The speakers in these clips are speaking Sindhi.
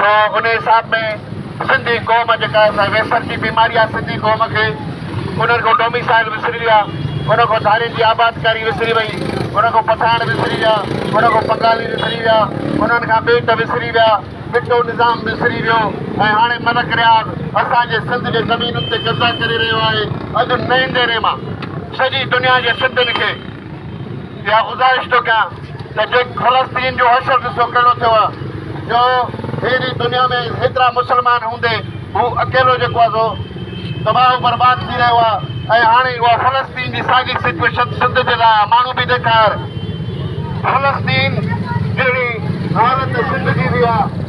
سو ان حساب ۾ سنڌي قوم جيڪا سا ويسر جي بيماري آ سنڌي قوم کي انهن کان ڊوميسائل وسري ويا انهن کان ڌارين جي آبادڪاري وسري وئي انهن کان پٺاڻ وسري ويا انهن کان بنگالي وسري ويا انهن کان ٻيٽ وسري ويا ٻٽو نظام وسري ويو ۽ هاڻي ملڪ رياض اسان جي سنڌ جي زمينن تي قبضا ڪري رهيو آهي اڄ نئين ديري مان سڄي دنيا جي سنڌين کي اها گذارش ٿو ڪيان ته جيڪ فلسطين جو حشر ڏسو ڪهڙو ٿيو آهي جو هيڏي دنيا ۾ هيترا مسلمان هوندي هو اڪيلو جيڪو آهي سو تباهه و برباد ٿي رهيو آهي ۽ هاڻي اها فلسطين جي ساڳي سچويشن سنڌ جي لاء ماڻهو به ڏيکار فلسطين جهڙي حالت سنڌ جي به آهي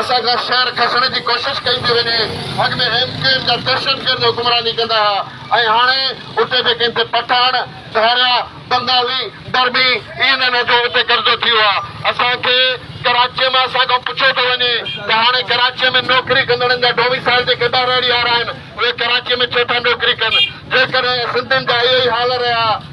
اسان کان شهر کسڻ جي ڪوشش ڪئي پئي وڃي، اڳ ۾ ايم ڪيو ايم جا دهشتگرد حڪمراني ڪندا ها ۽ هاڻي اتي به ڪن تي پٺاڻ، ڌاريا، بنگالي، برمي اي اين اين جو اتي قبضو ٿيو آ. اسان کي ڪراچيء مان اسان کان پڇيو پئي وڃي ته هاڻي ڪراچيء ۾ نوڪري ڪندڙن جا ڊوميسائيل جيڪي ٻهراڙيء وارا آهن اهي ڪراچيء ۾ ڇو ٿا نوڪري ڪن جيڪڏهن سنڌين جا اهي ئي حال رهيا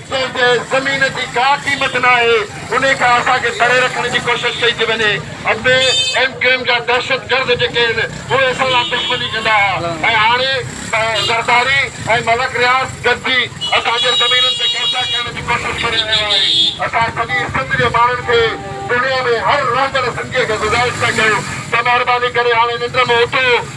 جنهن تي زمين جي ڪا قيمت ناهي انهي کان اسان کي پري رکڻ جي ڪوشش ڪئي ٿي وڃي اڳي ايم ڪيو ايم جا دهشتگرد جيڪي هن اهي اسان سان دشمني ڪندا ها ۽ هاڻي زرداري ۽ ملڪ رياض گڏجي اسان جي زمينن تي قبضا ڪرڻ جي ڪوشش ڪري رهيو آهي اسان سڄي سنڌ جي ماڻهن کي دنيا ۾ هر رهندڙ سنڌي کي گذارش ٿا ڪيون ته مهرباني ڪري هاڻي ننڊ مان اٿو.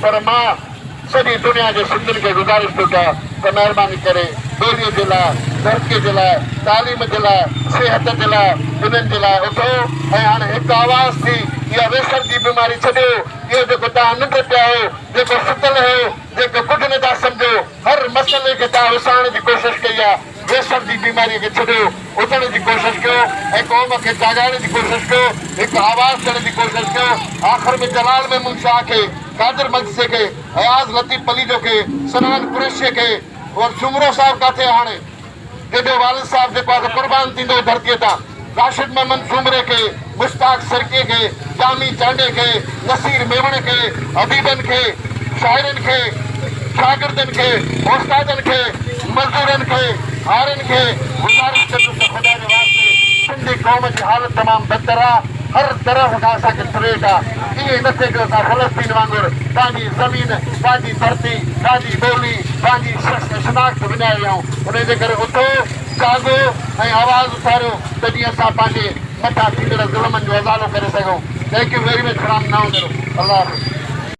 پر مان سڄي دنيا جي سنڌين کي گذارش ٿو ڪيان ته مهرباني ڪري ٻوليء جي لاء، ڌرتيء جي لاء، تعليم جي لاء، صحت جي لاء، انهن جي لاء اٿو ۽ هاڻ هڪ آواز ٿي اها ويسر جي بيماري ڇڏيو، اهو جيڪو توهان ننڊ پيا آهيو، جيڪو ستل هيو، جيڪو ڪجهه نه ٿا سمجهو، هر مسئلي کي توهان وسارڻ جي ڪوشش ڪئي آهي. ڪيسر جي بيماريء کي ڇڏيو، اٿڻ جي ڪوشش ڪيو ۽ قوم کي جاڳائڻ جي ڪوشش ڪيو، هڪ آواز ڏيڻ جي ڪوشش ڪيو. آخر ۾ جلال محمود شاهه کي، قادر مجلسي کي، اياز لطيف پليجو کي، سنان قريشيء کي ۽ سومرو صاحب ڪاٿي آهي هاڻي؟ تنهنجو والد صاحب جيڪو آ سو قربان ٿيندو هو ڌرتيء تان. راشد محمد سومري کي، مشتاق سرڪي کي، ڄامي چانڊئي کي، نصير ميمڻ کي، اديبن کي، شاعرن کي، شاگردن کي، استادن کي، مزدورن کي، هارين کي گذارش ڪندس ته خدا جي واسطي سنڌي قوم جي حالت تمام بدتر آ، هر طرف کان اسان کي ٿريٽ آ، ائين نه ٿئي جو اسان فلسطين وانگر پنهنجي زمين، پنهنجي ڌرتي، پنهنجي ٻولي، پنهنجي شناخت وڃائي ويهون، انهي جي ڪري اٿو. جاڳو ۽ آواز اٿاريو ته جيئن اسان پنهنجي مٿان ٿيندڙ ظلمن جو ازالو ڪري سگهون Thank you very much from نائونرو الله حافظ.